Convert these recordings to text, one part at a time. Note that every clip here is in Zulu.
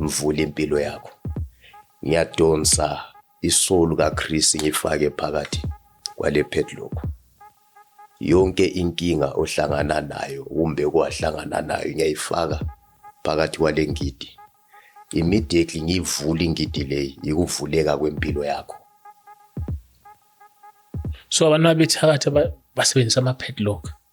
Ngivule impilo yakho. Ngiyadonsa isolu kaChris ngifake phakathi kwale padlock. Yonke inkinga ohlangana nayo kumbe kwahlangana nayo ngiyayifaka phakathi kwale ngidi. Immediately ngiyivula ingidi leyi ikuvuleka kwempilo yakho. So abantu abethakatha basebenzisa ama padlock.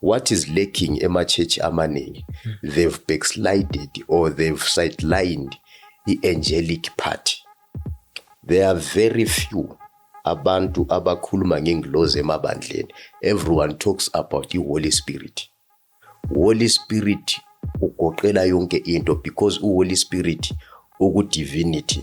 what is lacking emachechi amaningi they've backslided or they've sidelined i-angelic party there are very few abantu abakhuluma ngengilozi emabandleni everyone talks about i-holy spirit holy spirit ugoqela yonke into because u-holy spirit uku-divinity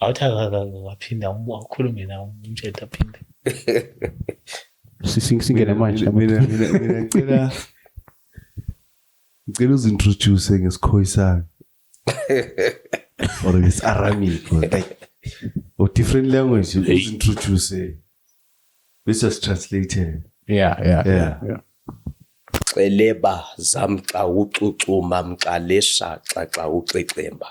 Awuthi akaphinde akhulume nawe umtshela aphinde. Singene manje. Mina mina mina ngicela ngicela uzintroduce ngesikhoyisana. Or it's Aramaic or like or different language uzintroduce. This is translated. Yeah, yeah, yeah. yeah. Celeba zamxa ucucuma mxalesha xaxa uxexemba.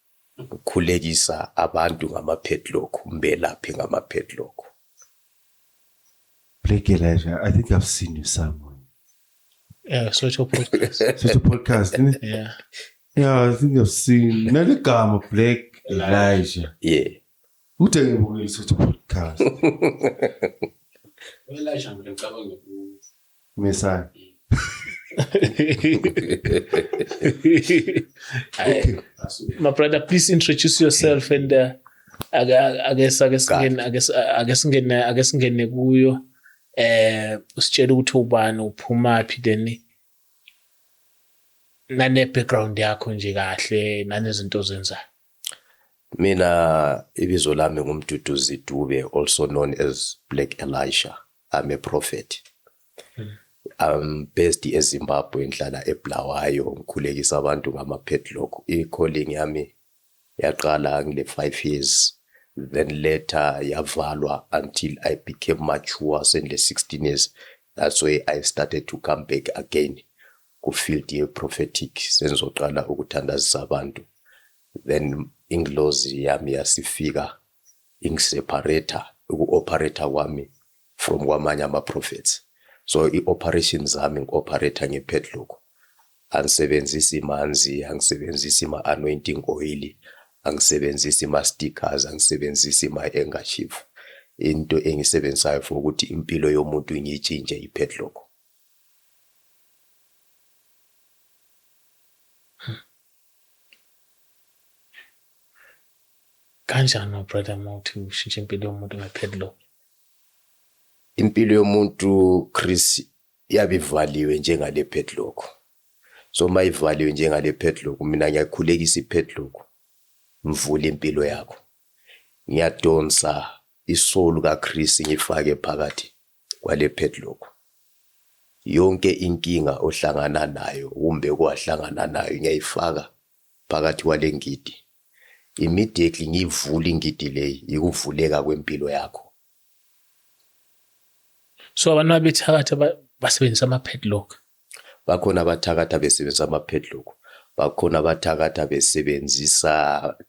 Ukukhulekisa abantu ngama-padlock, umbelaphe ngama-padlock. Blake Elijah, I think I've seen you somewhere. Yeah, Sotsho podcast. Such a podcast, isn't it? yeah. Yeah, I think I've seen. Naligama Blake Elijah. Yeah. Uthe ngibukile isuthu podcast. Welasha mina ngicabanga ukuthi Messiah. okay. My brother, please introduce yourself and uh, ake ake singene ake ake singene ake singene kuyo eh usitshela ukuthi ubani uphuma phi then nane background yakho nje kahle nanezinto ozenzayo Mina ibizo lami ngumduduzi Dube also known as Black Elisha. I'm a prophet. Hmm. I'm based eZimbabwe ngihlala eBulawayo ngikhulekisa abantu ngama padlock. I-calling yami yaqala ngile 5 years then later yavalwa until I became mature sendile 16 years. That's why I started to come back again. kufield ye prophetic sengizoqala ukuthandazisa abantu then ingilozi yami yasifika ingiseparator uku-operator kwami from kwamanye ama-prophets so i-operation zami ngi-operator nge-padlock angisebenzisi imanzi angisebenzisi ima-anointing oil angisebenzisi ima-stickers angisebenzisi ima-engashifu into engisebenzisayo for ukuthi impilo yomuntu ngiyitshintshe i-padlock kanjani ubrother uma uthi ushintshe impilo yomuntu ngepadlock impilo yomuntu chris yabe ivaliwe njengale padlock so uma ivaliwe njengale padlock mina ngiyakhulekisa ipadlock ngivule impilo yakho ngiyadonsa isolu kaChris ngifake phakathi Kwale padlock. Yonke inkinga ohlangana nayo kumbe kwahlangana nayo ngiyayifaka phakathi kwale ngidi. Immediately ngiyivula ingidi leyi yikuvuleka kwempilo yakho. So abantu abethakatha basebenzisa ama padlock. Bakhona abathakatha besebenzisa ama-padlock, bakhona abathakatha besebenzisa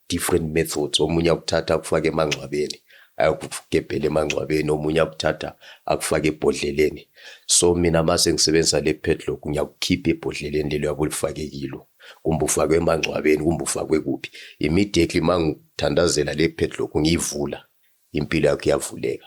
different methods. Omunye akuthatha akufake emangcwabeni, ayokugebhela emangcwabeni, omunye akuthatha akufake ebhodleleni. So mina mase ngisebenzisa le padlock ngiyakukhipha ebhodleleni lelo yabe ulifake kilo. Kumbe ufakwe emangcwabeni, kumbe ufakwe kuphi. Immediately mangithandazela le padlock ngiyivula, impilo yakho iyavuleka.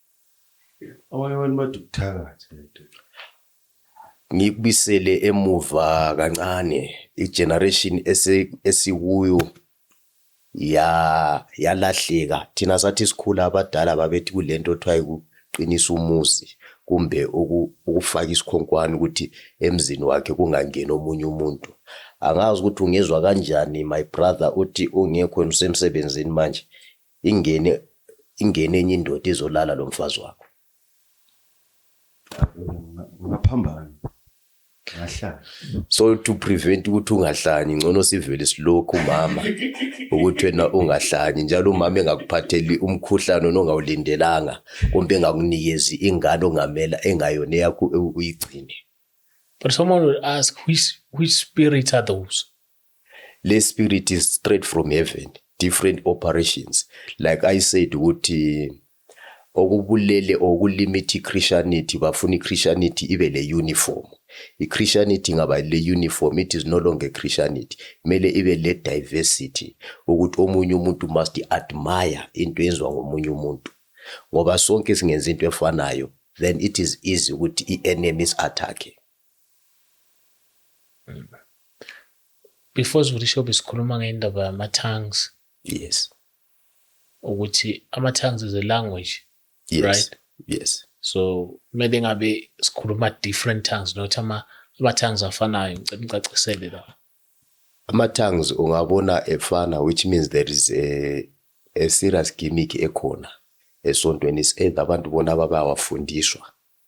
Abanye abantu bathi ukuthakatha nto. Ngikubisele emuva kancane igeneration esikuyo ya yalahleka thina sathi sikhula abadala babethi kulento othiwa ukuqinisa umuzi kumbe ukufaka isikhonkwane ukuthi emzini wakhe kungangeni omunye umuntu angazi ukuthi ungizwa kanjani my brother uthi ungekho usemsebenzini manje Ingene ingene enye indoda izolala lo mfazi wakho. Ngaphambana. Ngahlala. So to prevent ukuthi ungahlanyi ngcono sivele silokhu mama ukuthi wena ungahlanyi njalo umama engakuphatheli umkhuhlane onongawulindelanga kumbe engakunikezi ingane ongamela engayona yakho uyigcine. But someone will ask which which spirits are those? le spirit is straight from heaven different operations like i said ukuthi okubulele okulimit ichristianity bafuna ichristianity ibe le uniform ichristianity ngaba le uniform it is no longer christianity kumele ibe le diversity ukuthi omunye umuntu must admire into yenziwa ngomunye umuntu ngoba sonke singenza into efanayo then it is easy ukuthi i-enemy is attacking Before sivuthi shobe sikhuluma ngendaba yama-tongues. Yes. Ukuthi ama-tongues is a language. Yes. Right? Yes. So kumele ngabe sikhuluma different tongues not ama ama-tongues afanayo ngicela ngicacisele la. Ama-tongues ungabona efana which means there is a a serious gimmick ekhona esontweni is either abantu bona babawafundiswa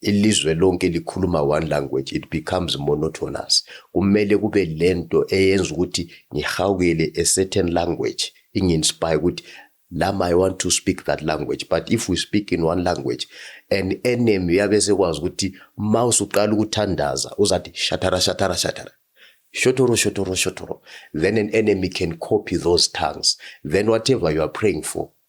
ilizwe lonke likhuluma one language it becomes monotonous kumele kube lento eyenza ukuthi ngihawukele a certain language inginspire ukuthi lama i want to speak that language but if we speak in one language an enemy yabe sekwazi ukuthi ma usuqala ukuthandaza uzathi shatara shatara shatara shotoro shotoro shotoro then an enemy can copy those tongues then whatever you are praying for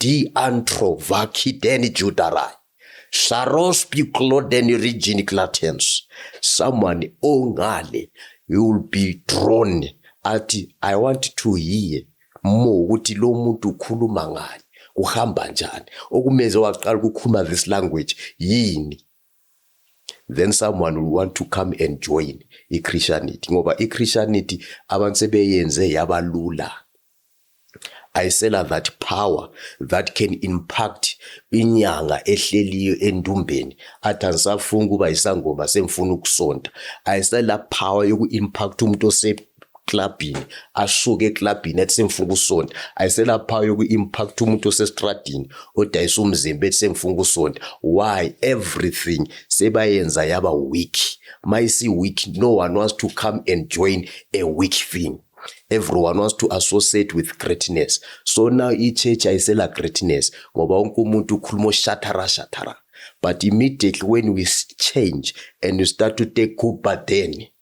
Diantro Vakideni Judarai. Sarospi Clodeni Regini Clatens. Someone ongale you will be drawn athi I want to hear more ukuthi lo muntu ukhuluma ngani kuhamba njani okumenze waqala ukukhuluma this language yini then someone will want to come and join iChristianity ngoba iChristianity abantu sebeyenze yabalula ayisela that power that can impact inyanga ehleliyo endumbeni athi angisafuni ukuba yisangoma sengifuna ukusonta ayisela power yoku-impact umuntu clubini asuke eclubini ethi sengifuna ukusonta ayiselaphayo kwi-impact umuntu osestradini odayisa umzimba ethi sengifuna ukusonta why everything sebayenza yaba weak ma isi-weak no one wants to come and join a weak thing everyone wants to associate with greatness so now i-church ayisela greatness ngoba wonke umuntu ukhuluma oshathara shathara but immediately when we change and we start to take kuba then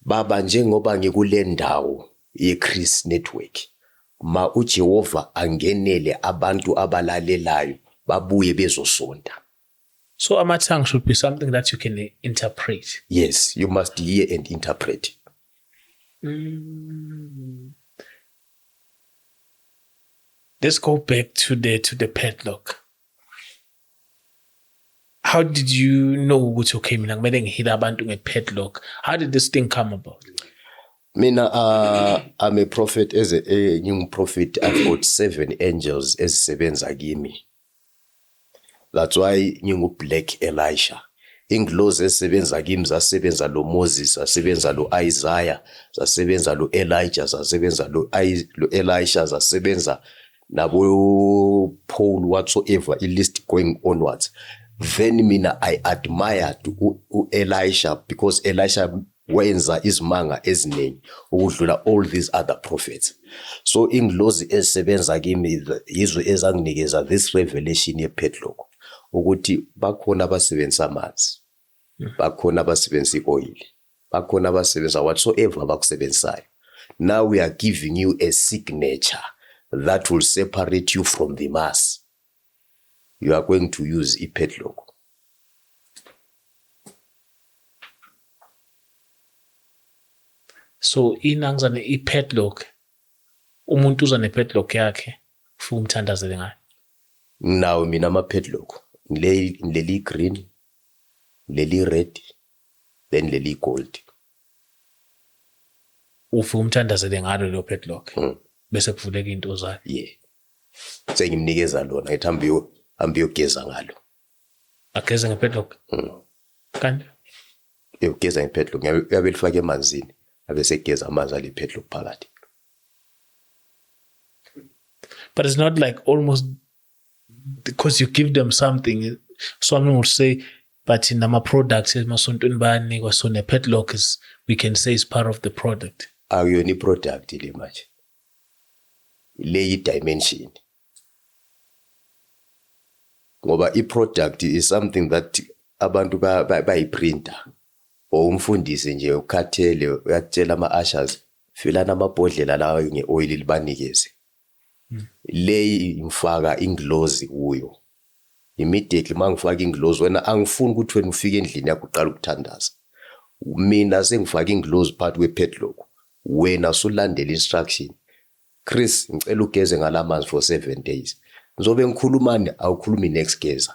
Baba njengoba ngikule ndawo yeChris Network ma uJehova angenele abantu abalalelayo babuye bezosonta. So ama tongue should be something that you can interpret. Yes, you must hear and interpret. Mm. Let's go back to the to the padlock. how did you know ukuthi okay mina kumele ngihile abantu ngepadlock how did this thing come about mina uh, i'm a prophet as a, a new prophet i've got seven angels ezisebenza kimi that's why ngingublack elisha ingilozi esebenza kimi zasebenza lo Moses zasebenza lo Isaiah zasebenza lo Elijah zasebenza lo Elisha zasebenza nabo Paul whatsoever i list going onwards then mina i admired uElisha because Elisha wenza izimanga eziningi ukudlula all these other prophets so ingilozi esebenza kimi yizwe ezanginikeza this revelation yepadlock ukuthi bakhona abasebenzisa amanzi bakhona abasebenzisa ioil Bakhona abasebenza whatsoever abakusebenzisayo. Now we are giving you a signature that will separate you from the mass. You are going to use a padlock. So inangizane i padlock umuntu uza ne padlock yakhe ufike umthandazele ngayo. Now mina ama padlock ngileli green leli red then leli gold ufi umthandazele ngalo lo padlock mm. bese kuvuleka into zakhe yeah sengimnikeza lona ngithi hambe yo hambe yogeza ngalo ageze nge padlock mm. kanti yogeza nge padlock yabe lifake emanzini abe segeza amanzi ale padlock phakathi but it's not like almost because you give them something so i'm not say but in our products emasontweni bayanikwa so ne-padlock is we can say is part of the product akuyona i-product le manje le yi-dimension ngoba i-product is something that abantu bayiprinta ba, ba or umfundisi nje ukhathele uyakutshela ama-ushers filani amabhodlela lawa nge-oyili libanikeze Leyi ngifaka ingilozi kuyo. Immediately uma ngifaka ingilozi, wena angifuni ukuthi wena ufike endlini yakho uqala ukuthandaza. Mina sengifaka ingilozi phakathi kwe-padlock, wena sulandela instruction. Chris, ngicela ugeze ngala manzi for seven days. Ngizobe ngikhulumani? Awukhulumi next, geza.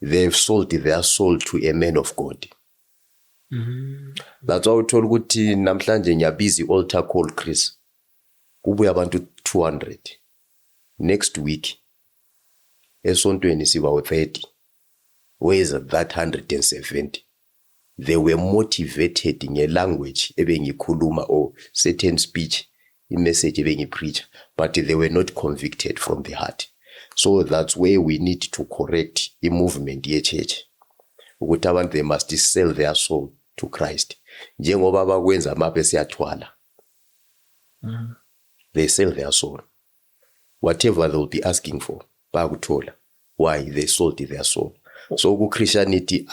they have sold their soul to a man of God mm. that's why uthola ukuthi namhlanje ngiyabiza i-altar call Chris kubuya abantu 200 next week esontweni siba u-30 where is that 170 They were motivated nge language ebengikhuluma or certain speech, i message ebengi preacher but they were not convicted from the heart. So that's where we need to correct i movement ye church ukuthi abantu they must sell their soul to Christ njengoba bakwenza maphe siyathwala. Mm. They sell their soul. whatever they'll be asking for bayakuthola why they sold their soul so kuchristianity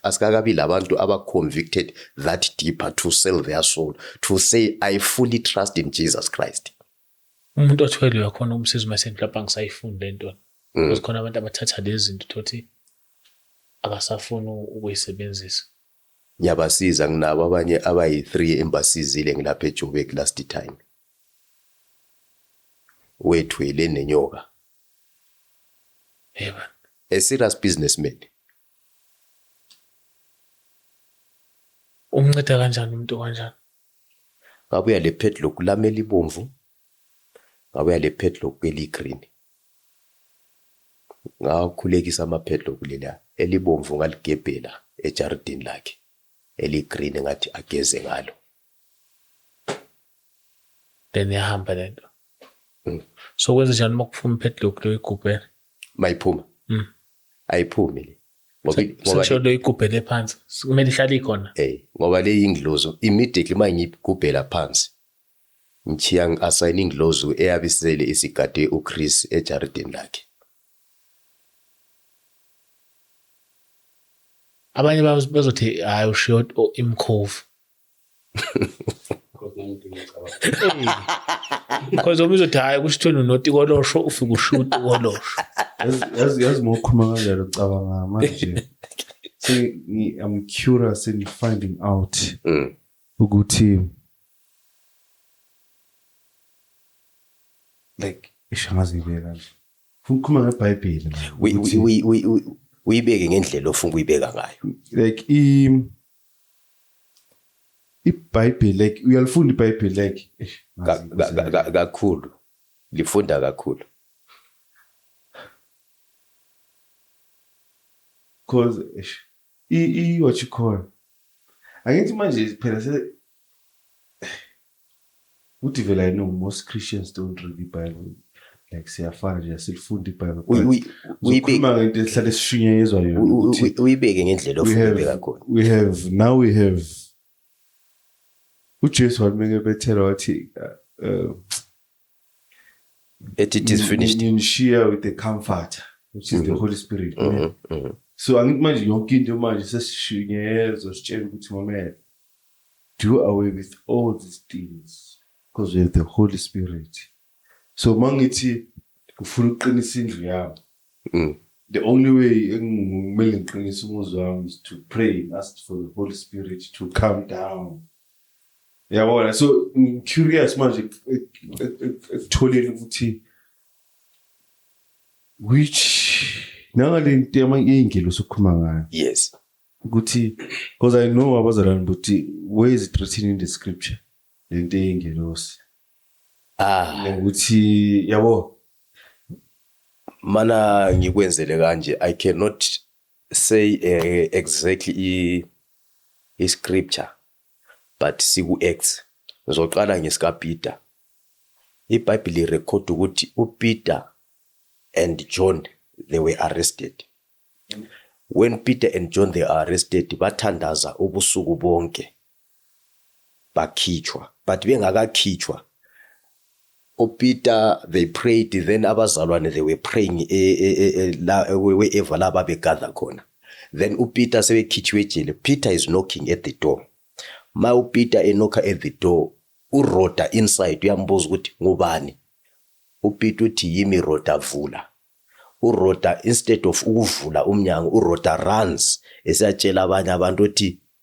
asikakabi labantu abaconvicted that deeper to sell their soul to say i fully trust in jesus christ umuntu othwele uyakhona ukumsiza uma esemhlawumbe angisayifuni le nto mm. because khona abantu abathatha lezi zinto thothi abasafuni ukuyisebenzisa ngiyabasiza nginabo abanye abayi-three embasizile ngilapha ejoburg last time wethu eleni nenyoka hey man a serious businessman umnceda kanjani umuntu kanjani ngabuya le padlock lami elibomvu ngabuya le padlock eligreen ngakhulekisa ama padlock lela elibomvu ngaligebhela ejaridini lakhe eligreen ngathi ageze ngalo then yahamba le nto mm. so kwenze njani uma kuphuma ipadlock leyo igubhele mayiphuma mm. ayiphume le ngoba lo igubhele phansi kumele ihlale ikhona eh ngoba le inglozo immediately uma ngiyigubhela phansi ngichiya ngi-asayina inglozo eyabe isele isigade uchris ejaridini lakhe abanye bazothi hayi ushiyo imkhovu Cause uma uzothi hayi kusho ukuthi unoti kolosho ufike ushuta kolosho. Yazi yazi mokhuluma kanjalo cabanga manje. So I'm curious in finding out mm. ukuthi like ishangazi ngibeka kanje. Funa ukukhuluma ngeBhayibheli. Uyibeke ngendlela ofuna ukuyibeka ngayo. Like i IBhayibheli like uyalifunda iBhayibheli like kakhulu lifunda kakhulu cause i what you call angithi manje phela se Uthi vele I know most Christians don't read the Bible. Like siyafana nje silifunda iBible. Uyi- uyi- uyibeke- Ukhuluma ngento esihlale esishunyayezwa yona. u- u- ukuthi u- uyibeke ngendlela we ofuna have- ibeka khona we have now we have uJesu wathi mekebethela wathi uh, uh, ethi it is finished nginishiya with the comforter which is the mm-hmm. holy spirit mm-hmm. Mm-hmm. so angithi manje yonke into manje sesishunyezwa sitshela ukuthi mamela do away with all these things because we have the holy spirit so mangithi ngifuna ukuqinisa indlu yami mm. the only way engimele ngiqinise umuzi wami is to pray and ask for the holy spirit to come down Yabona so I'm curious manje ekutholeni ukuthi which nangale nto yamangelo sokukhuluma ngayo. Yes. Ukuthi because I know abazalwane ukuthi where is it written in the scripture lento yengelosi. Ah. Ngokuthi yabo mana ngikwenzele kanje I cannot say uh, exactly i, i scripture but siku acts ngizoqala ngesikaPeter iBhayibheli record ukuthi uPeter and John they were arrested when Peter and John they are arrested bathandaza ubusuku bonke bakhitshwa but bengakakhitshwa oPeter they prayed then abazalwane they were praying e, e, e, la wherever la babegather khona then uPeter sebekhitshiwe ejele Peter is knocking at the door ma uPeter enokha at the door uRoda inside uyambuza ukuthi ngubani uPeter uthi yimi Roda vula uRoda instead of ukuvula umnyango uRoda runs esiyatshela abanye abantu ukuthi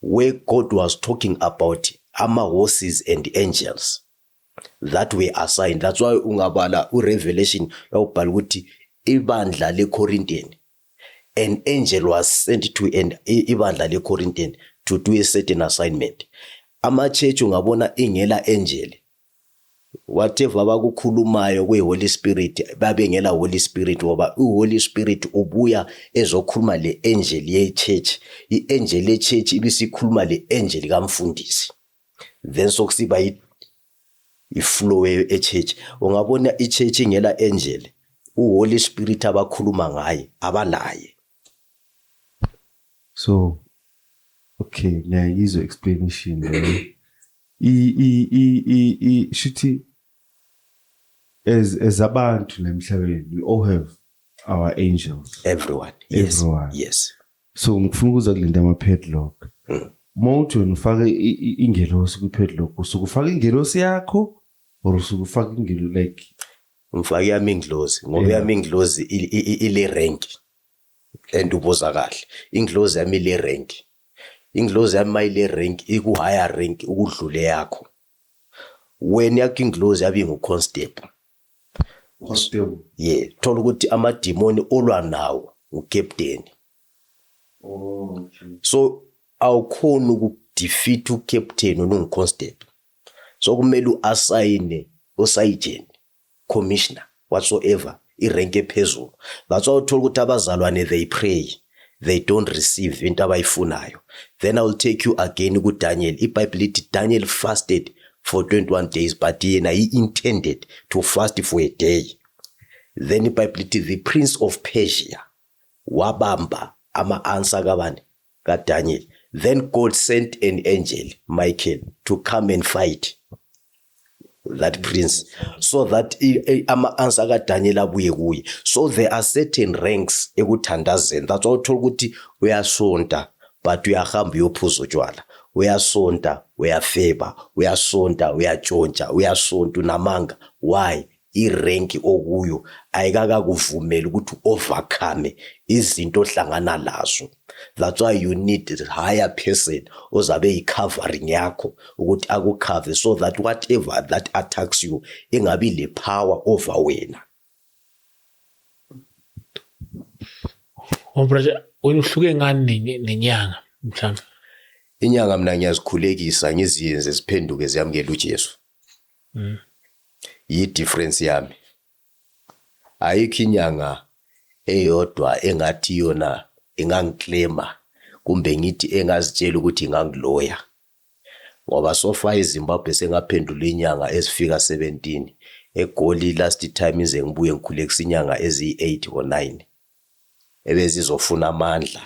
where God was talking about ama horses and angels that were assigned that's why ungabala u revelation lawubhala ukuthi ibandla le Corinthian an angel was sent to an ibandla le Corinthian to do a certain assignment ama church ungabona ingela angel whatever abakukhulumayo kwi Holy Spirit babengela Holy Spirit ngoba u Holy Spirit ubuya ezokhuluma le angel ye church i angel ye church ibisikhuluma le angel kamfundisi then sokusiba i flow e church ungabona i church ingela angel u Holy Spirit abakhuluma ngaye abalaye so okay ngiyayizwa explanation leyo i i i i i shithi as as abantu la emhlabeni we all have our angels everyone yes everyone. yes so ngifuna ukuza kulento ama padlock Mm. mawuthi wena ufake i- i- ingelosi kwi padlock usuke ufaka ingelosi yakho or usuke ufaka ingelo like Ngifake yami inglozi ngoba yeah. yami inglozi ile rank and ubuza kahle inglozi yami ile rank inglozi yami mayile rank iku higher rank ukudlule yakho wena yakho inglozi yabi ngu constable constable yeah thola ukuthi amadimoni olwa nawo ucaptain oh okay. so awukhona ukudefeat ucaptain olungu constable So kumele uasayine osayijeni, commissioner, whatsoever, irenki ephezulu. That's why uthola ukuthi abazalwane they pray, they don't receive into abayifunayo. Then I will take you again kuDaniel. IBhayibheli lithi Daniel fasted for 21 days but yena he intended to fast for a day. Then iBhayibheli lithi the prince of Persia wabamba ama-answer kabani? ka Daniel then God sent an angel Michael to come and fight that prince so that ama answer ka Daniel abuye kuye so there are certain ranks ekuthandazeni that's why uthola ukuthi uyasonta but uyahamba uyophuza utshwala uyasonta uyafeba uyasonta uyatshontsha uyasonta unamanga why irenki okuyo ayikakakuvumeli ukuthi overcome izinto ohlangana lazo that's why you need a higher person ozabe yi-covering yakho ukuthi akukhave so that whatever that attacks you ingabi le power over wena Ombraja wena uhluke ngani nenyanga mhlawumbe inyanga mina ngiyazikhulekisa ngiziyenze ziphenduke ziyamukele uJesu Mm. Yi difference yami. Ayikho inyanga eyodwa engathi yona ingangiclaima kumbe ngithi engazitshela ukuthi ingangiloya. Ngoba so far eZimbabwe sengaphendula inyanga ezifika 17. EGoli last time ize ngibuye ngikhulekisa inyanga eziyi-8 or 9. Ebezizofuna amandla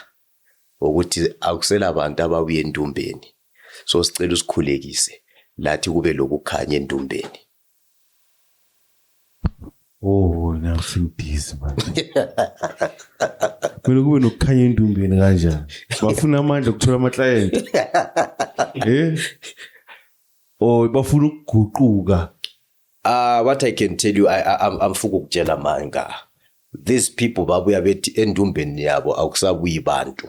ukuthi akusela bantu ababuye entumbeni so sicela usikhulekise lathi kube lokukhanya entumbeni Oh, now sing this man. Kumele kube nokukhanya endumbeni kanjani? Bafuna amandla okuthola ama client. Eh? Oh, bafuna ukuguquka. Uh, what I can tell you, I, I, I'm, I'm fuku kutshela manga. These people babuya bethi endumbeni yabo akusabuyi bantu.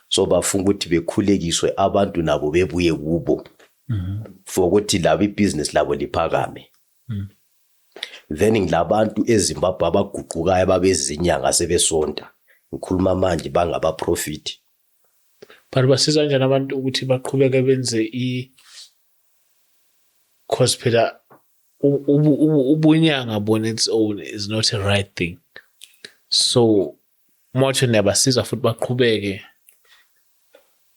So bafuna ukuthi bekhulekiswe abantu nabo bebuye kubo. Mm -hmm. For ukuthi labo ibusiness labo liphakame. Mm -hmm. then ngilabantu eZimbabwe abaguqukayo ababezinyanga sebesonta ngikhuluma manje bangabaprofit But basiza kanjani abantu ukuthi baqhubeke benze i cause phela ubunyanga bona its own is not a right thing so motho niyabasiza futhi baqhubeke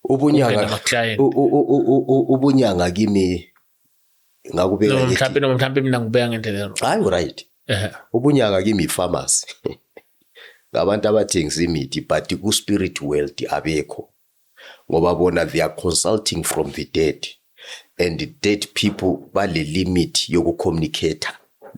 ubunyanga ubunyanga kimi ngakubeka no, mhlampe no mhlampe mina ngibeka ngendlela ero hayi uright ehe ubunyanga kimi pharmacy ngabantu abathengisa imithi but ku spirit world abekho ngoba bona they are consulting from the dead and the dead people bale limit yoku communicate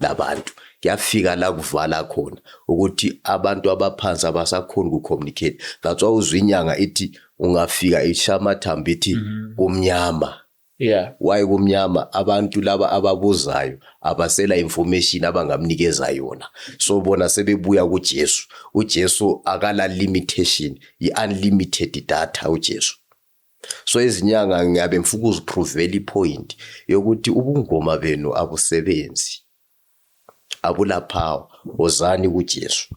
labantu kuyafika la kuvala khona ukuthi abantu abaphansi abasakhona ku communicate that's why uzwinyanga ithi ungafika ishamathambo ithi mhm. kumnyama mm -hmm. Yeah. Why kumnyama abantu laba ababuzayo abasela information abangamnikeza yona. So bona sebebuya kuJesu. UJesu akala limitation, i unlimited data uJesu. So izinyanga ngiyabe ngifuna ukuzipruvela ipoint yokuthi ubungoma benu abusebenzi. Abula power, wozani kuJesu.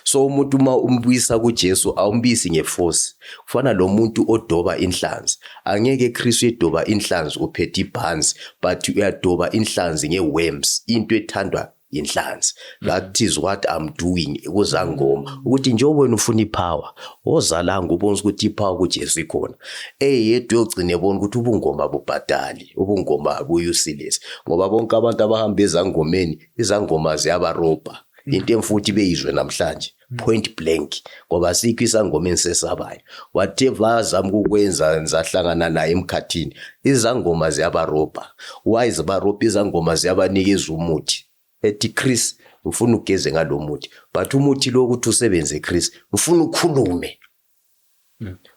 So umuntu uma umbuyisa kuJesu awumbisi ngeforce. Kufana lo muntu odoba inhlanzi. Angeke Kristu edoba inhlanzi uphethe ibhanzi but uyadoba inhlanzi ngeworms into ethandwa yinhlanzi. That is what I'm doing kuzangoma ukuthi njengoba wena ufuna ipower ozalanga ubonisa ukuthi ipower kuJesu ikhona. Eyedwa yogcina ebona ukuthi ubungoma bubhadali, ubungoma buyi useless ngoba bonke abantu abahamba ezangomeni izangoma ziyabarobha mm. into emfuthi beyizwe namhlanje mm. point blank ngoba sikho isangoma ensesabayo whatever azama ukwenza ngizahlangana naye emkhathini izangoma ziyabarobha why zibarobha izangoma ziyabanikeza umuthi ethi Chris ufuna ugeze ngalomuthi but umuthi lo ukuthi usebenze Chris ufuna ukhulume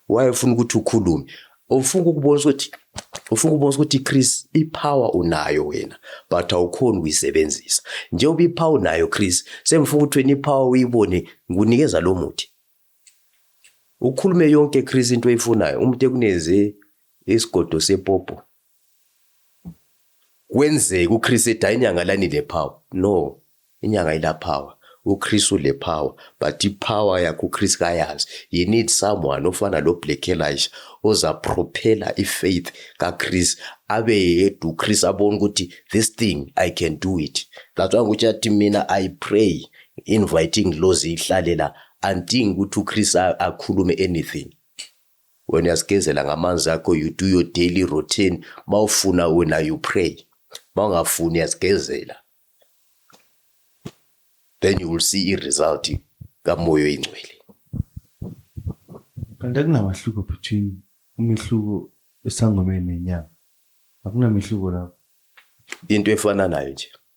Why ufuna ukuthi ukhulume? Ufuna ukubonisa ukuthi ufuna ukubonisa ukuthi Chris ipower unayo wena but awukhoni ukuyisebenzisa. Njengoba ipower unayo Chris, sengifuna ukuthi wena ipower uyibone ngikunikeza lo muthi. Ukhulume yonke Chris into oyifunayo, umuntu ekuneze isigodo sepopo Kwenzeka uChris ethi hayi inyanga lani le power. No, inyanga ila power. UChris ule power but ipower yakhe uChris kayazi. He need someone ofana lo Black Elijah oza propeller ifaith kaChris abe yedwa uChris abone ukuthi this thing I can do it. That's why ukuthi athi mina I pray inviting lozi ihlalela anting ukuthi uChris akhulume anything. Wena uyazigezela ngamanzi akho, you do your daily routine. Mawufuna wena you pray. Mawungafuni uyazigezela. Then you will see i-result kamoya oyingcwele. Kanti akunamahluko between umehluko esangomeni nenyanga. Akunamehluko lapho. Into efana nayo nje.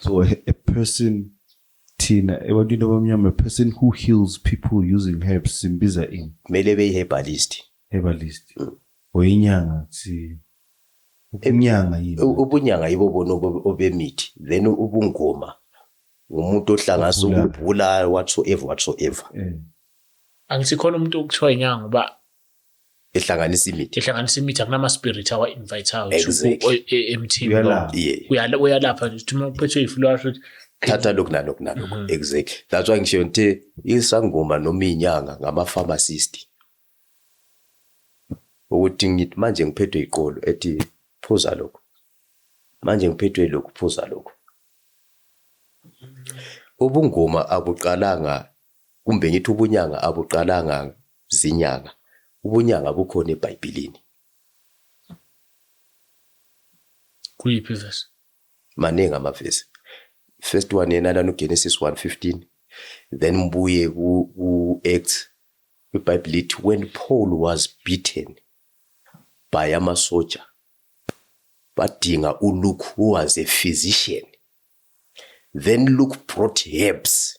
so a, a person thina ebantwini abamnyama a person who heals people using herbs simbiza in kumele beyi-herbalist herbalist mm. or inyanga si ubunyanga yini ubunyanga yibo bona obemithi then ubungoma umuntu ohlanganisa ukubhula whatsoever whatsoever eh. angithi khona umuntu okuthiwa inyanga uba ehlanganisa imithi ehlanganisa imithi akunama spirit awa invite out exactly. E, emthini uyalapha uyalapha nje uthi uphethwe ifu lwasho ukuthi thatha lokhu nalokhu nalokhu mm -hmm. exactly that's why ngisho ngithi isangoma noma inyanga ngama pharmacist ukuthi ngithi manje ngiphethwe iqolo ethi phuza lokhu manje ngiphethwe lokhu phuza lokhu ubungoma abuqalanga Kumbe ngithi ubunyanga abuqalanga zinyanga? Ubunyanga bukhona eBhayibhilini. Kuyiphi ivesi? Maningi amavesi. First one yena lana uGenesis 1:15 then mbuye ku-Acts iBhayibheli lithi when Paul was beaten by amasoja badinga uLuke who was a physician then Luke brought herbs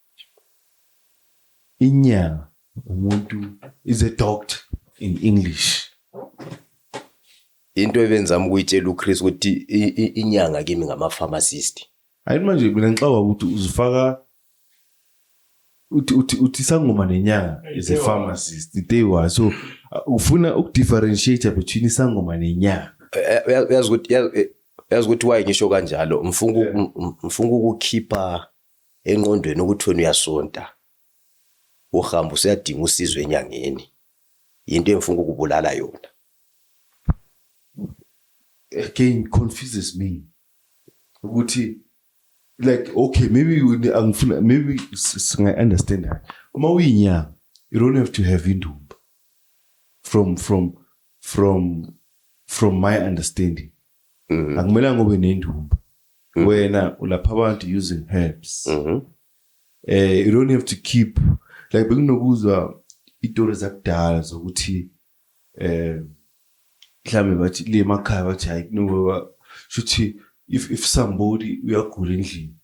Inyanga umuntu is a doctor in English. Into ebenzama ukuyitshela uChris ukuthi inyanga kimi ngama pharmacist. Hayi manje mina ngixaba ukuthi uzifaka uthi uthi uthi sangoma nenyanga is a pharmacist they were so uh, ufuna ukudifferentiate between isangoma nenyanga. Eh, eh, uyazi ukuthi eh, uyazi ukuthi why ngisho kanjalo mfunga mfunga ukukhipha engqondweni ukuthi wena uyasonta uhamba usuyadinga usizo enyangeni yinto engifuna ukubulala yona again confuses me ukuthi like okay maybe angifuna maybe singa understand that uma uyinyanga you don't have to have indumba from from from from my understanding Mm. Akumelanga ube nendumba. Mm. Wena ulapha abantu using herbs. Mhm. Mm eh you don't have to keep like bekunokuzwa itori zakudala zokuthi eh mhlambe bathi le makhaya bathi hayi kunoba shuthi if if somebody uyagula endlini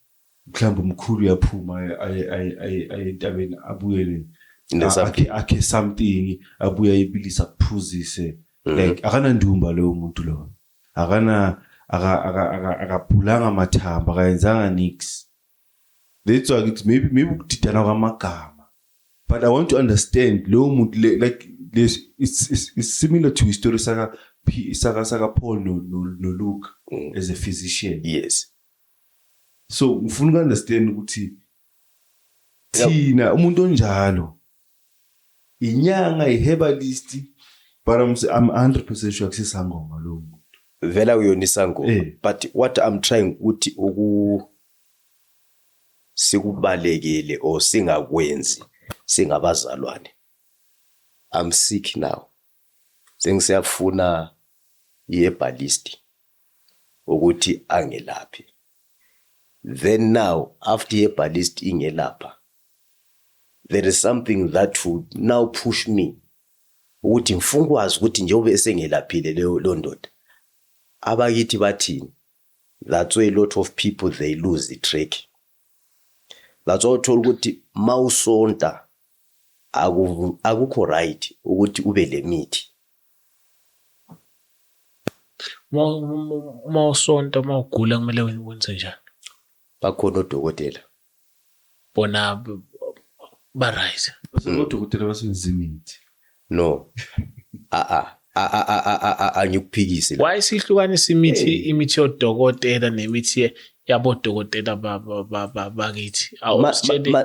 mhlawumbe umkhulu uyaphuma aye aye aye aye entabeni abuyele a- Nesam- akhe akhe something abuye ayibilisa kuphuzise Mhm. like akanandumba lowo muntu lowo akana aka- aka- aka- akabhulanga amathamba akayenzanga nix that's why ngithi maybe maybe ukudidana kwamagama but i want to understand lowo muntu le- like this it's, it's, it's similar to history saka P- saka saka Paul no no, no Luke Mm. as a physician yes So ngifuna uku understand ukuthi thina umuntu onjalo inyanga iherbalist but I'm, I'm 100% sure kusisangoma lo muntu vela uyona isangoma eh. but what I'm trying ukuthi uku sikubalekele or singakwenzi singabazalwane I'm sick now sengisiyafuna iherbalist ukuthi angelaphe then now after iherbalist ingelapha there is something that would now push me ukuthi ngifuna ukwazi ukuthi njengoba esengelaphile leyo lo ndoda abakithi bathini that's why a lot of people they lose the track that's why uthola ukuthi mawusonta akukho right ukuthi ube lemithi Uma uma usonta uma ugula kumele wenze njani? Bakhona odokotela. Bona ba right. Odokotela basenzimithi. No. Ah ah. angikuphikisi why sihlukanisa imithi imithi yodokotela nemithi yabodokotela bakithi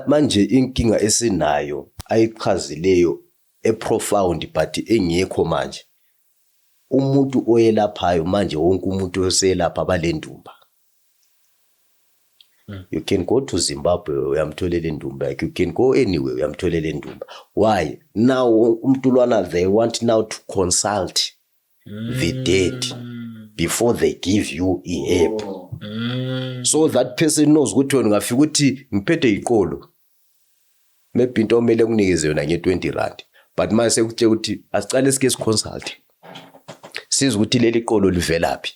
manje inkinga esinayo ayichazileyo eprofound but engekho manje umuntu oyelaphayo manje wonke umuntu oselapha balendumba hmm. you can go to Zimbabwe uyamtholela indumba you can go anywhere uyamtholela indumba why now umntulwana they want now to consult the dead before they give you a herb so that person knows ukuthi wena ungafika ukuthi ngiphethe iqolo maybe into omele kunikeze yona nge-20 rand but manje sekutshela ukuthi asicale sike siconsulte siza ukuthi leli qolo livelaphi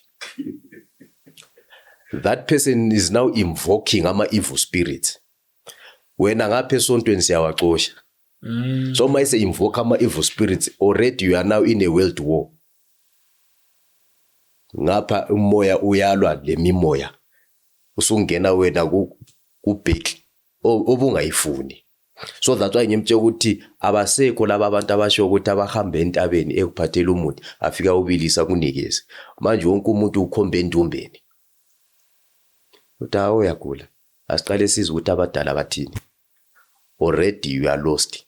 that person is now invoking ama-evil spirits wena ngapha esontweni siyawacosha Mm. So uma ise invoke ama evil spirits already you are now in a world war. Ngapha umoya uyalwa lemimoya. Usungena wena ku kubheki obungayifuni. So that's why ngimtshela ukuthi abasekho laba abantu abasho ukuthi abahambe entabeni ekuphathela umuthi afika ubilisa kunikeze. Manje wonke umuntu ukhombe endumbeni. Uthi awu uyagula. Asiqale sizwe ukuthi abadala bathini. already you are lost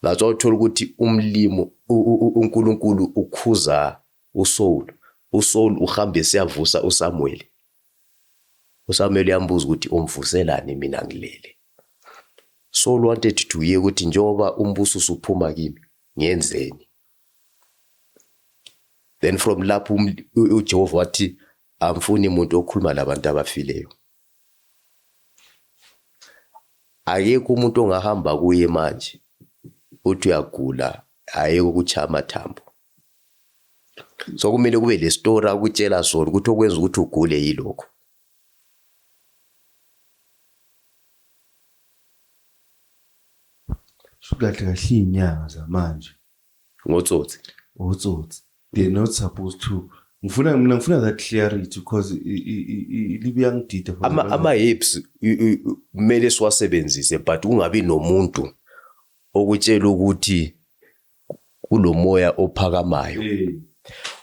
that's why uthola ukuthi umlimo uNkulunkulu ukhuza uSaul uSaul uhamba esiyavusa uSamuel uSamuel uyambuza ukuthi umvuselani mina ngilele Saul wanted to hear ukuthi njengoba umbuso usuphuma kimi ngenzeni then from lapho um, uJehova wathi Angifuni muntu okhuluma labantu abafileyo. Akekho umuntu ongahamba kuye manje uthi uyagula ayeke ukuchaya amathambo. So kumele kube le story akutshela sona ukuthi okwenza ukuthi ugule yilokho. Kahle kahle iy'nyanga zamanje Ngotsotsi. Ngotsotsi. They're not supposed to ngifuna mina ngifuna that clarity because libuyangidida ama ama hips kumele siwasebenzise but kungabi nomuntu okutshela ukuthi kulomoya ophakamayo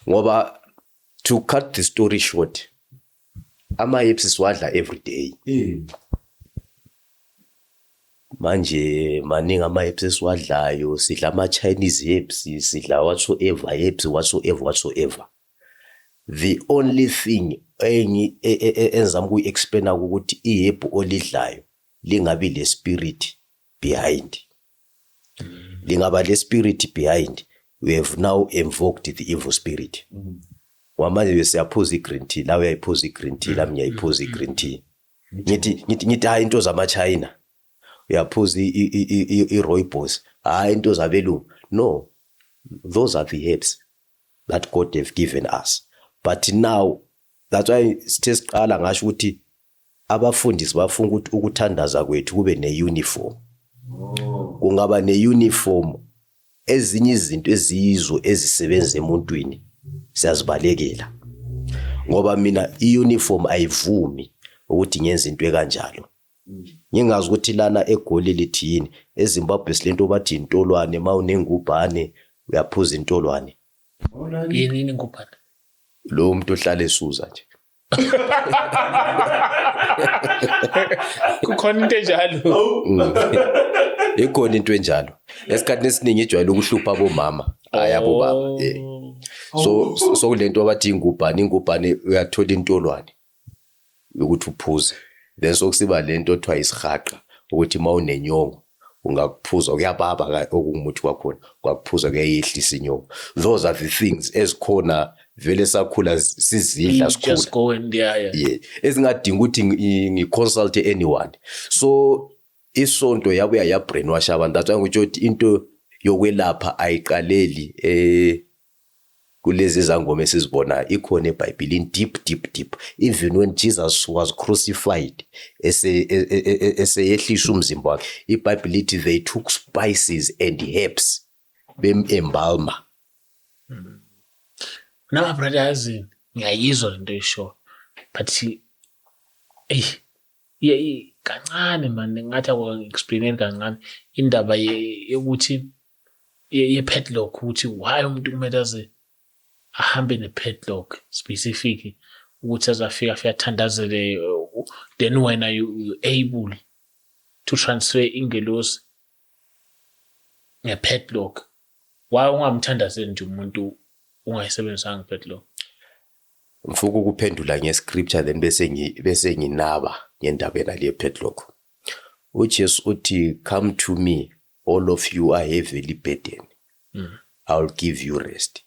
ngoba to cut the story short Ama-apps siwadla everyday. Mm. Manje maningi ama-apps esiwadlayo, sidla ama-Chinese apps, sidla whatsoever apps, whatsoever, whatsoever. The only thing engi e, e, e, engizama ukuyi-explain-a ukuthi ihebhu olidlayo lingabi le-spirit behind lingaba le spirit behind we have now invoked the evil spirit wamanje bese siyaphuza i-green tea la uyayiphuza i-green tea lami ngiyayiphuza i-green tea ngithi ngithi ngithi hayi into zama-china uyaphuza i-roybos hayi into zabelungu no those are the herbs that god have given us but now that's why sithe siqala ngasho ukuthi Abafundisi bafuna ukuthi ukuthandaza kwethu kube ne-uniform. Kungaba ne-uniform ezinye izinto eziyizo ezisebenza emuntwini siyazibalekela. Ngoba mina i-uniform ayivumi ukuthi ngenze into ekanjalo. Ngingazi ukuthi lana eGoli lithi yini, eZimbabwe silento bathi intolwane uma unengubhane uyaphuza intolwane. Yini ingubhane? Lo muntu ohlala esuza nje. kukhona into enjalo ikhona into enjalo esikhathini esiningi ijwayele ukuhlupha abomama hayi abobaba Oh. eh. so so- so kule nto abathi ingubhane ingubhane uyathola intolwane yokuthi uphuze then sokusiba le nto othiwa isihaqa ukuthi uma unenyongo ungakuphuza kuyababa ka okungumuthi kwakhona kwakuphuza kuyayehlisa inyoko those are the things ezikhona vele sakhula sizidla mm, sikhula yeah ezingadinga ukuthi ngiconsult anyone so isonto yabuya ya brainwash abantu that's why ngitsho ukuthi into yokwelapha ayiqaleli eh Kulezi zangoma esizibonayo ikhona ebhayibhilini deep deep deep even when Jesus was crucified eseyehlisa umzimba wakhe ibhayibhili lithi they took spices and herbs bemembalma hmm. Noma brother yazi ngiyayizwa lento isho but ey ye kancane man ngathi akwa explain kancane indaba yokuthi ye-padlock ukuthi why umuntu kumele aze ahambe ne-padlock specific ukuthi azafika afike athandazele then wena you, you able to transfer ingelosi nge-padlock why ungamthandazeli nje umuntu ungayisebenzisanga i-padlock ngifuna ukuphendula nge-scripture then bese ngi bese nginaba ngendaba yena le padlock uJesu uthi come to me All of you are heavily burdened. Mm. I will give you rest.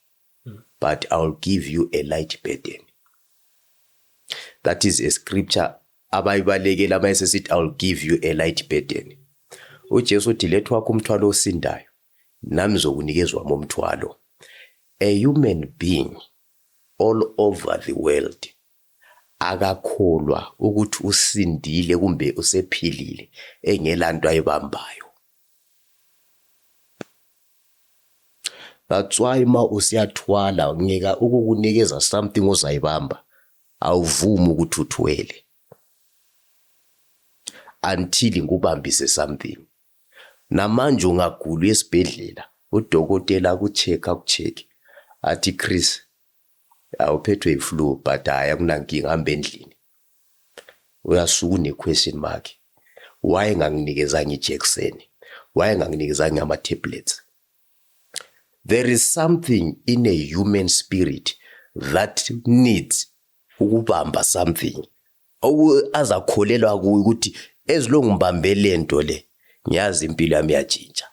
Mm. But I will give you a light burden. That is a scripture abayibalekela uma esesithi I will give you a light burden. UJesu uthi lethu wakho umthwalo osindayo nami zokunikezwa momthwalo. A human being all over the world Akakholwa ukuthi usindile kumbe usephilile engelanto ayibambayo. That's why uma usiyathwala ngika ukukunikeza something ozayibamba awuvumi ukuthi uthwele until ngikubambise something. Namanje ungagula esibhedlela udokotela akucheck akucheck athi Chris Ya uphethwe yi flu but hayi akunankinga hamba endlini. Uyasuka une question mark. Why enganginikezanga ijekseni? Why enganginikezanga ama tablets? There is something in a human spirit that needs ukubamba something. Azakholelwa kuyo ukuthi ezilongu ngibambe lento le ngiyazi impilo yami yatshintsha.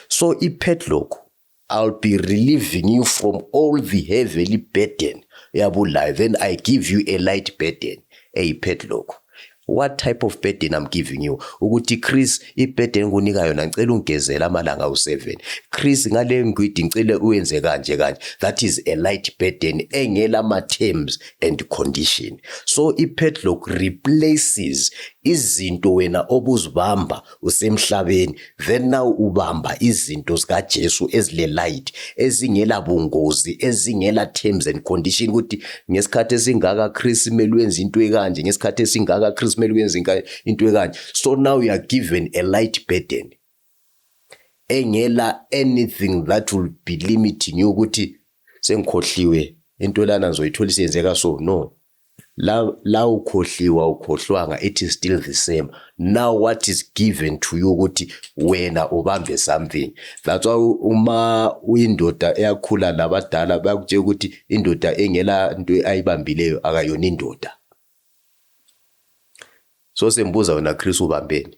So ipadlock I'll be relieving you from all the heavily burden yabo life and I give you a light burden eyi padlock what type of burden I'm giving you ukuthi Chris iburden enginika yona ngicela ungigezela amalanga awu7 Chris ngale ngwidi ngicele uyenze kanje kanje that is a light burden engela ma terms and condition so ipadlock replaces izinto wena obuzibamba usemhlabeni then now ubamba izinto zikaJesu ezile light ezingela bungozi ezingela terms and condition ukuthi ngesikhathi esingaka Chris kumele wenze into ekanje ngesikhathi esingaka Chris kumele wenze into ekanje so now you are given a light burden engela anything that will be limiting you ukuthi sengikhohliwe into lana ngizoyithola isiyenzeka so no La la ukhohliwa ukhohlwanga it is still the same now what is given to you ukuthi wena ubambe something that's why uma uyindoda eyakhula labadala bayakutshela ukuthi indoda engela into ayibambileyo akayona indoda so sembuza wena Chris ubambeni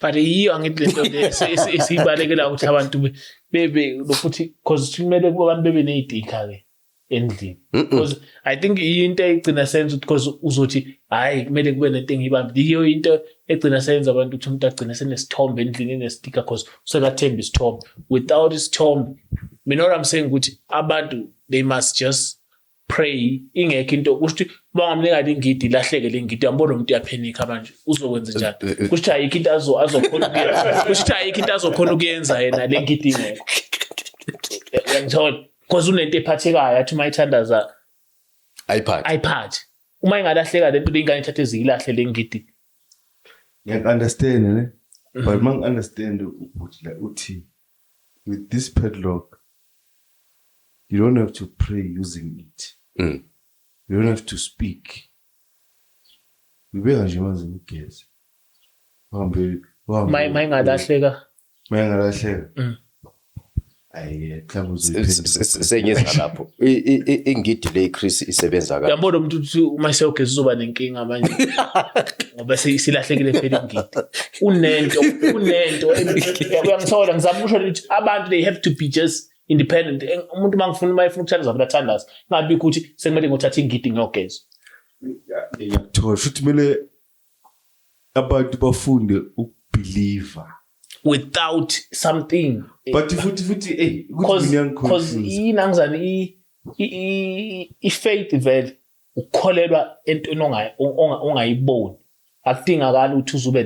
but yiyo angithi lento le esiyibalekela ukuthi abantu bebe lokuthi because kumele abantu bebe nezidika ke endlini because i think into egcina senza because uzothi hayi kumele kube nento engiyibambi yiyo into egcina senza abantu ukuthi umuntu agcine senesithombe endlini enestika because usekathemba isithombe without isithombe mina what i'm saying ukuthi abantu they must just pray ingekho into kusho ukuthi bangamnika lingidi ilahleke lingidi yambona umuntu uyaphenika manje uzokwenza eh, njani eh, eh. kusho ukuthi ayikho into azokhona ukuyenza kusho ukuthi ayikho into azokhona ukuyenza yena le ngidi ingekho uyangithola because unento ephathekayo athi uma ithandaza ayiphathi ayiphathi uma ingalahleka lento leyingane ithathe eziyilahle le ngidi ngiyaku-understand ne mhm. but uma ngi-understand ubhuti la uthi With this padlock, you don't have to pray using it. Mm. You don't have to speak. Ngibeka nje manje ngigeze. Uhambe uhambe. May mayingalahleka. Mayingalahleka. Mm. Ayi, mhlawumbe uzoyiphendula. Senyeza lapho. Ingidi le Chris isebenza kanjani? Yabona umuntu uthi uma seyogeza uzoba nenkinga manje. ngoba silahlekile phela ingidi kunento kunento uyangithola ngizama ukusho ukuthi abantu they have to be just independent umuntu uma ngifuna uma efuna ukuthandaza vele athandaza ingabi ukuthi sekumele ngothatha ingidi ngiyogeza ngiyakuthola futhi kumele abantu bafunde ukubhiliva without something but futhi futhi ey ukuthi mina ngikhohlisa yini angizani i i faith vele ukukholelwa entweni ongayiboni akudingakala ukuthi uzube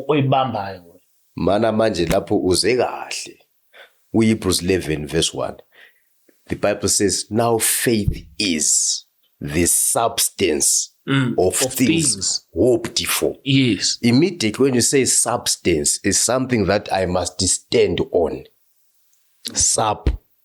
oyibambayo mana manje lapho uze kahle uyibruce 11 verse 1 the bible says now faith is the substance mm, of, of things, things hoped for yes immediately when you say substance is something that i must stand on sub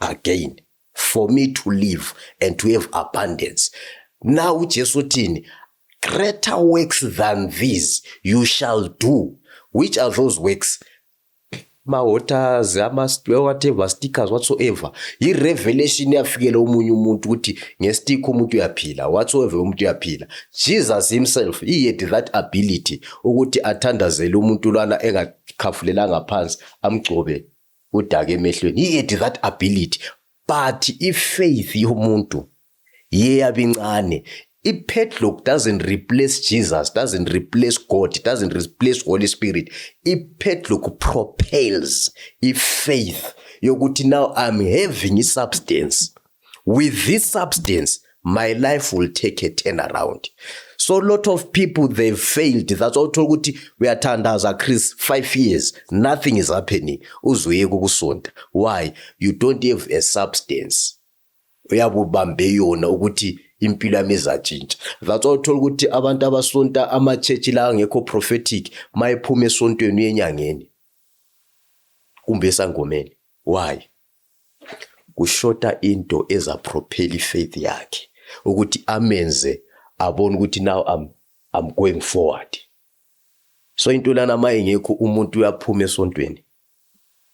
again for me to live and to have abundance now uJesu uthini greater works than these you shall do which are those works ma-waters ama-whatever stickers whatsoever yi-revelation yafikela omunye umuntu ukuthi ngestikha umuntu uyaphila whatsoever umuntu uyaphila jesus himself he had that ability ukuthi athandazele umuntu lwana engakhafulelanga phansi amgcobe Udake emehlweni. He had that ability. But i-faith yomuntu iye yabincane. I-padlock doesn't replace Jesus, doesn't replace God, doesn't replace Holy Spirit. I-padlock propels i-faith yokuthi now I'm having i-substance. with this substance my life will take a turn around so lot of people they failed that's all talk ukuthi uyathandaza Chris 5 years nothing is happening uzoyeka ukusonta why you don't have a substance uyabubambe yona ukuthi impilo yami izatshintsha that's why uthola ukuthi abantu abasonta ama-church la angekho prophetic mayephuma esontweni uyenyangeni kumbe esangomeni Why? Kushota into eza propel ifaith yakhe ukuthi amenze abone ukuthi now I'm I'm going forward. So into lana mayingekho umuntu uyaphuma esontweni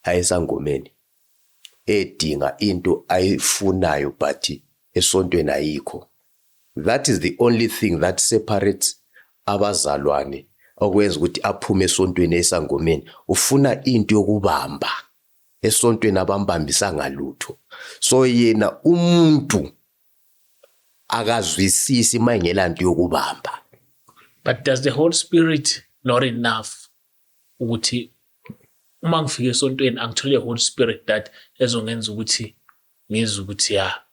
ayesangomeni edinga into ayifunayo but esontweni ayikho that is the only thing that separates abazalwane okwenza ukuthi aphume esontweni esangomeni ufuna into yokubamba esontweni abambambisa ngalutho so yena umuntu akazwisisi mayingela nto yokubamba but does the holy spirit not enough ukuthi uma ngifike esontweni angithole holy spirit that ezongenza ukuthi ngizwe ukuthi ya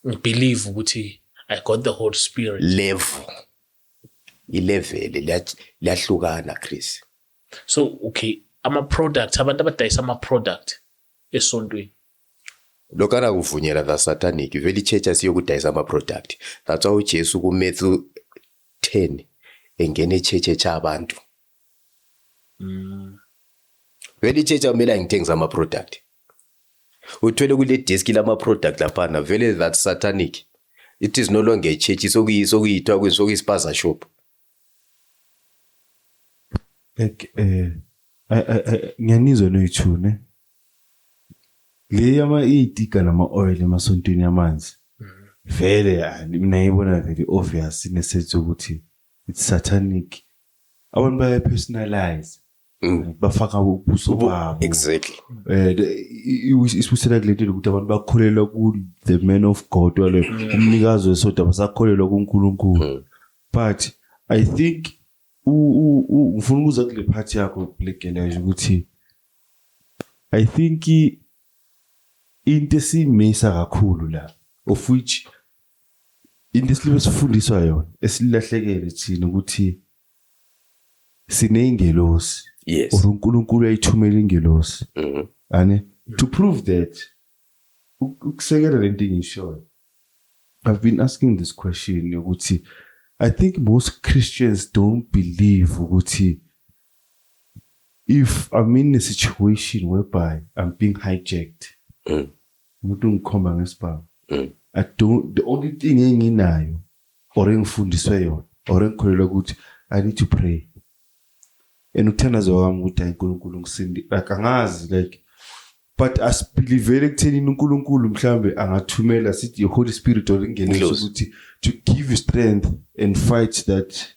ngibelieve ukuthi i got the holy spirit level ileveli liyahlukana chris so okay ama-product abantu abadayisa ama-product esontweni lokho anakuvunyela the satanic vele ichurch asiyokudayisa ama-product that's why ujesu kumatthew 10 engena echurch echa abantu Mm. Vele ichecha kumele angithengise ama-product. Uthwele kule desk lama-product laphana vele that satanic. It is no longer a church sokuyithiwa kwenziwa kuyisipaza shop. Like eh ngiyanizwa noyithune. Le yama iyitika nama oil emasontweni yamanzi. Mm. Vele mina ngibona vele obvious nesense ukuthi It's satanic. Abantu baya personalize. Mm. bafaka ubuso babo exactly eh isibusela kulento ukuthi abantu bakholelwa ku the man of god wale mm. umnikazi wesoda basakholelwa kuNkulunkulu mm. but i think ngifuna ukuza kule part yakho legeleje ukuthi i think into esimisa kakhulu la of which into esilime sifundiswa yona esilahlekele thina ukuthi sineyingelosi yes or uNkulunkulu uyayithumela ingelosi mhm ane to prove that uk- ukusekela lento engishoyo i've been asking this question ukuthi i think most christians don't believe ukuthi if i'm in a situation whereby i'm being hijacked Mm. umuntu ungikhomba ngesibhamu mm. i don't the only thing enginayo or engifundiswe yona or engikholelwa ukuthi i need to pray and ukuthandaza kwami ukuthi hayi uNkulunkulu ngisindi like angazi like but asibelivele kutheni uNkulunkulu mhlambe angathumela sithi iHoly Spirit olingene ukuthi to give you strength and fight that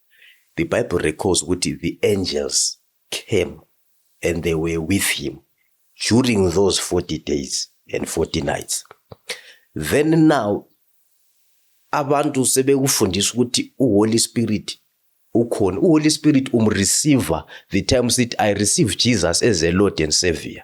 The Bible records ukuthi the angels came and they were with him during those 40 days and 40 nights. Then now abantu sebekufundisa ukuthi uHoly Spirit ukhona. UHoly Spirit umreceiver the time sithi I receive Jesus as a Lord and Savior.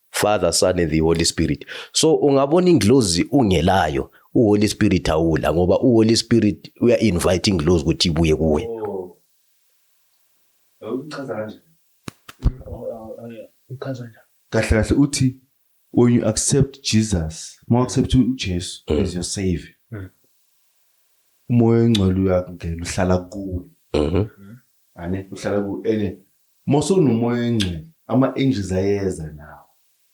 Father, Son and the Holy Spirit. So ungabona ingilozi ungelayo, uHoly Spirit awula ngoba uHoly Spirit uya invite ingilozi ukuthi ibuye kuwe. Oh. Uchaza kanje. Uchaza kanje. Kahle kahle uthi when you accept Jesus, uma accept uJesu mm. as your savior. Mm. Umoya ongcwele uyakungena uhlala kuwe. Mhm. Ane uhlala kuwe ene Mosewunomoya oyingcwele ama angels ayeza nawo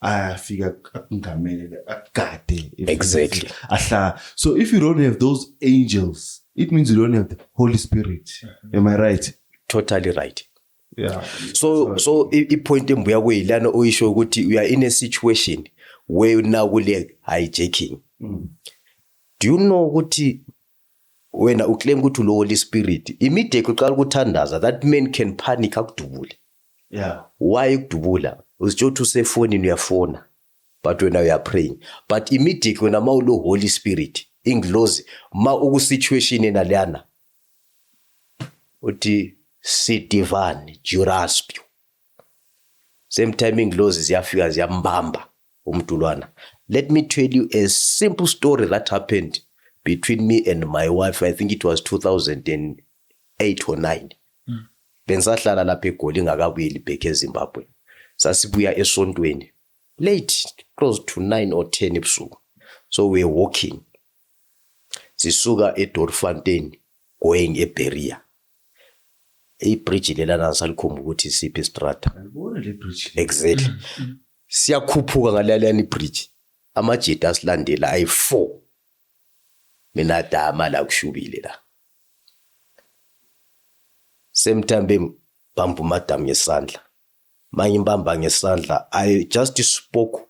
ayafika akungamele akugade if- Exactly. ahla so if you don't have those angels it means you don't have the holy spirit am i right totally right yeah so so i- ipoint embuya kuyilana oyisho ukuthi we are in a situation where nakule hijacking do you know ukuthi Wena u claim ukuthi ulo Holy Spirit. Immediate uqala ukuthandaza that man can panic akudubule. Yeah. Why ukudubula? Uzitsho ukuthi usefonini uyafona. But wena uya praying. But immediate wena ma ulo Holy Spirit ingilozi ma uku situation enalana uthi sidivani juraspio same time inglozi ziyafika ziyambamba umdulwana let me tell you a simple story that happened between me and my wife i think it was 2008 or 9 mm. bengisahlala lapha egoli ngakabuyeli back ezimbabwe sasibuya esontweni late close to 9 or 10 ebusuku so we were walking Sisuka eDoorfontein going eBeria. Ibridge lelana ngisalikhumba ukuthi isiphi istrata. Ngibona le bridge. Exactly. Mm, mm. Siyakhuphuka ngalalana ibridge. Amajita asilandela ayi4. Mina dama la kushubile la. Same time bembamba umadam ngesandla. Manje imbamba ngesandla I just spoke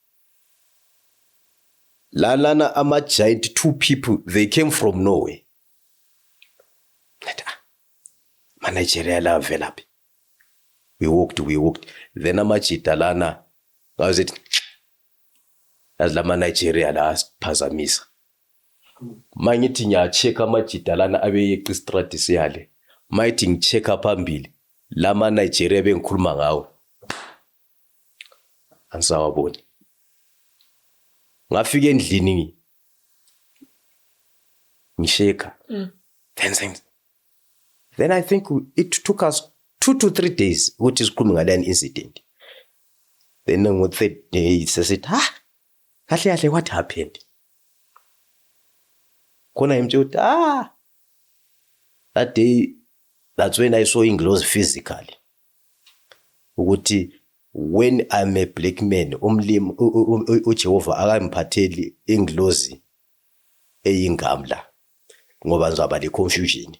Lalana ama giant two people they came from nowhere. Ngathi ah ma Nigeria la velaphi. We walked we walked then amajita lana ngaze yazi lama Nigeria la asiphazamisa. Mangithi ngiya check amajita lana abeyeqa istradi siyale. Mayithi ngicheck phambili lama Nigeria bengikhuluma ngawo. angisawaboni ngafika endlini ngisheka mm. then things then i think it took us two to three days ukuthi sikhulume ngaleyo incident then ngo third day sesithi ha kahle kahle what happened khona ngimtshela ukuthi ah that day that's when i saw ingilozi physically ukuthi when I'm a black man umlimi uJehova akangiphatheli ingilozi eyingamla ngoba ngizaba le confusion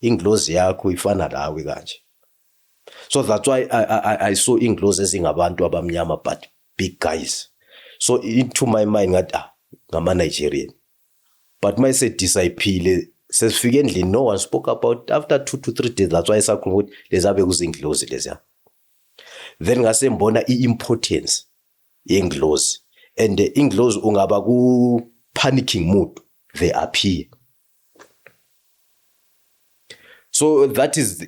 ingilozi yakho ifana lawe kanje so that's why I, I, I saw ingilozi ezingabantu abamnyama but big guys so into my mind ngathi ah ngama Nigerian but uma esedisayphile sesifike endlini no one spoke about after two to three days that's why esakhuluma ukuthi lezabe kuzinglozi leziya then ngase ngibona i-importance yenglozi and inglozi ungaba ku-panicking mood they appear so that is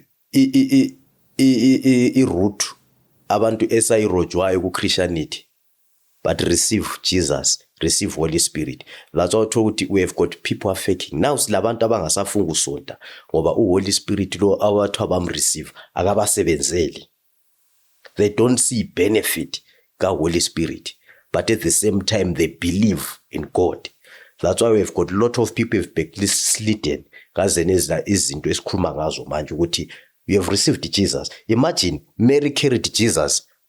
i-root abantu esayirojwayo ku-christianity But receive Jesus, receive Holy Spirit. That's why uthola ukuthi we have got people are faking. Now silabantu abangasafuni ukusonta ngoba u Holy Spirit lo awathi abamreceive akabasebenzeli. They don't see benefit ka Holy Spirit but at the same time they believe in God. That's why we've got a lot of people have backslidden kaze nezila izinto esikhuluma ngazo manje ukuthi you have received Jesus. Imagine Mary carried Jesus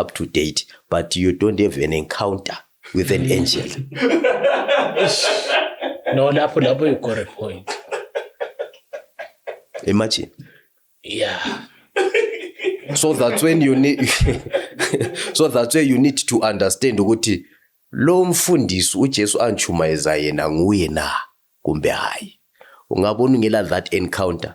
up to date but you don't have an encounter with an angel no lapho lapho you got a point imagine yeah so that's when you need so that's where you need to understand ukuthi lo mfundisi uJesu anchumayeza yena nguye na kumbe hayi ungabona ungela that encounter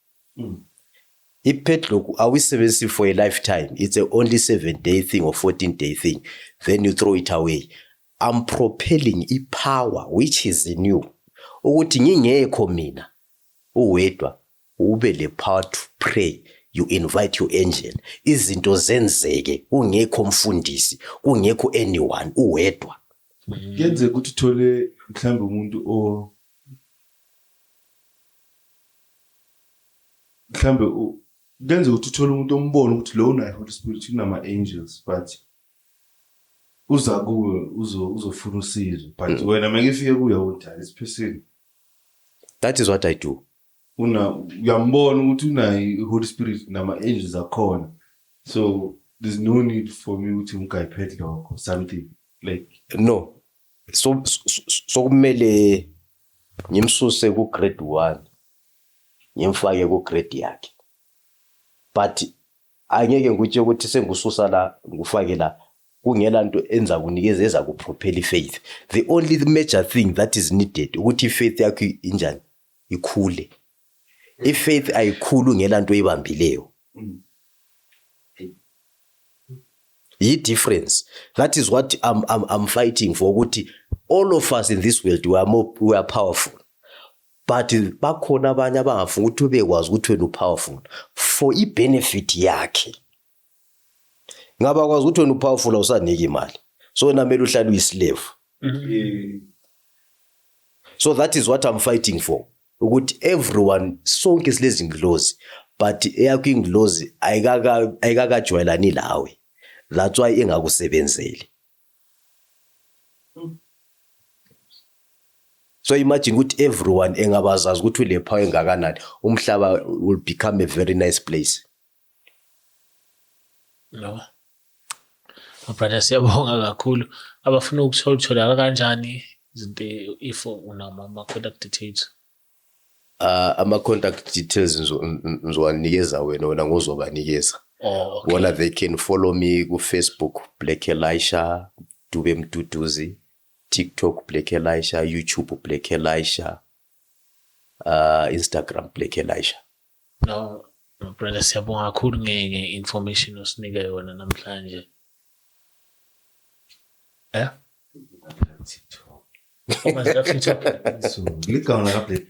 I-padlock awuyisebenzisi for a lifetime it's a only seven day thing or 14 day thing then you throw it away I'm propelling i-power which is in you ukuthi ngingekho mina uwedwa ube le power to pray you invite your angel izinto zenzeke kungekho mfundisi kungekho anyone uwedwa kuyenzeka ukuthi uthole mhlawumbe umuntu mhlawumbe kuyenzeka ukuthi uthole umuntu ombona ukuthi lo unayo holy spirit kunama-angels but uza kuwe uzofuna usizo but mm. wena make ifike kuye udala isiphesini that is what i do una uyambona ukuthi unayo i-holy spirit nama-angels akhona so there's no need for me ukuthi ngigayiphethe lokho something like no so sokumele ngimsuse ku grade 1 ngimfake ku grade yakhe but angeke ngikutshe ukuthi sengususa la ngufake la kungela nto enza kunikeza eza kuphophela ifaith the only major thing that is needed ukuthi ifaith yakho injani ikhule ifaith ayikhulu ngelanto oyibambileyo yi difference that is what I'm, I'm, I'm fighting for ukuthi all of us in this world we are, more, we are powerful but bakhona abanye abangafuni ukuthi ubekwazi ukuthi wena upowerful for ibenefit yakhe ngaba kwazi ukuthi wena upowerful awusaniki imali so wena kumele uhlale uyislave mm-hmm. so that is what I'm fighting for ukuthi everyone sonke silezi ngilozi but eyakho ingilozi ayikaka ayikakajwayelani lawe that's why ingakusebenzeli so imagine ukuthi everyone engabazazi ukuthi ulephawu engakanani umhlaba will become a very nice place Yabo. Brother siyabonga kakhulu. Abafuna ukuthola utholakala kanjani izinto if unama ama contact details. Ah ama contact details ngizo- ngi- ngizowanikeza wena wena ngozobanikeza. Oh okay. Bona they can follow me ku Facebook Black Elisha, Dube Mduduzi, TikTok Black Elisha, YouTube Black Elisha, uh, Instagram Black Elisha. No, no brother siyabonga kakhulu ngeke information osinike yona namhlanje. Eh? Ligawula ka Black.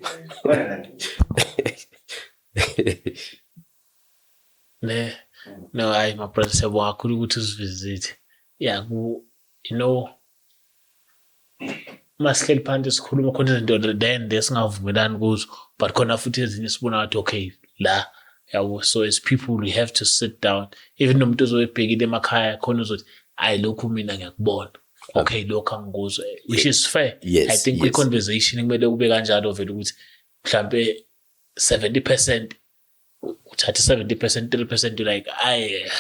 Ne, no hayi ma brother siyabonga kakhulu ukuthi usivisit. Yeah, ku you know uma sihleli phansi sikhuluma khona izinto then esingavumelani kuzo but khona futhi ezinye sibona ngathi okay la yabo so as people we have to sit down even nomuntu ozoyibhekile emakhaya khona uzothi ayi lokhu mina ngiyakubona okay lokho angikuzwe which is fair yes, i think yes. kwi-conversation kumele kube kanjalo vele ukuthi mhlampe 70 percent uthatha i-70 percent 3 percent you like aye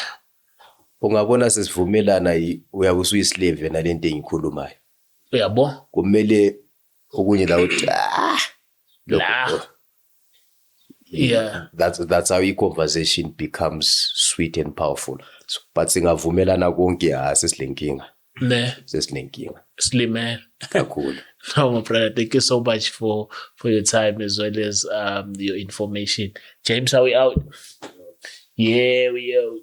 ungabona sesivumelana yi- uyabe usuyislave nale nto engiyikhulumayo uyabo kumele okunye la uthi "Ah, lokho, La. oh." yeah that's, that's how i-conversation becomes sweet and powerful So, but singavumelana konke ha sesilenkinga ne sesinenkinga silimele kakhulu no my brother thank you so much for for your time as well as um your information james are we out yeah we out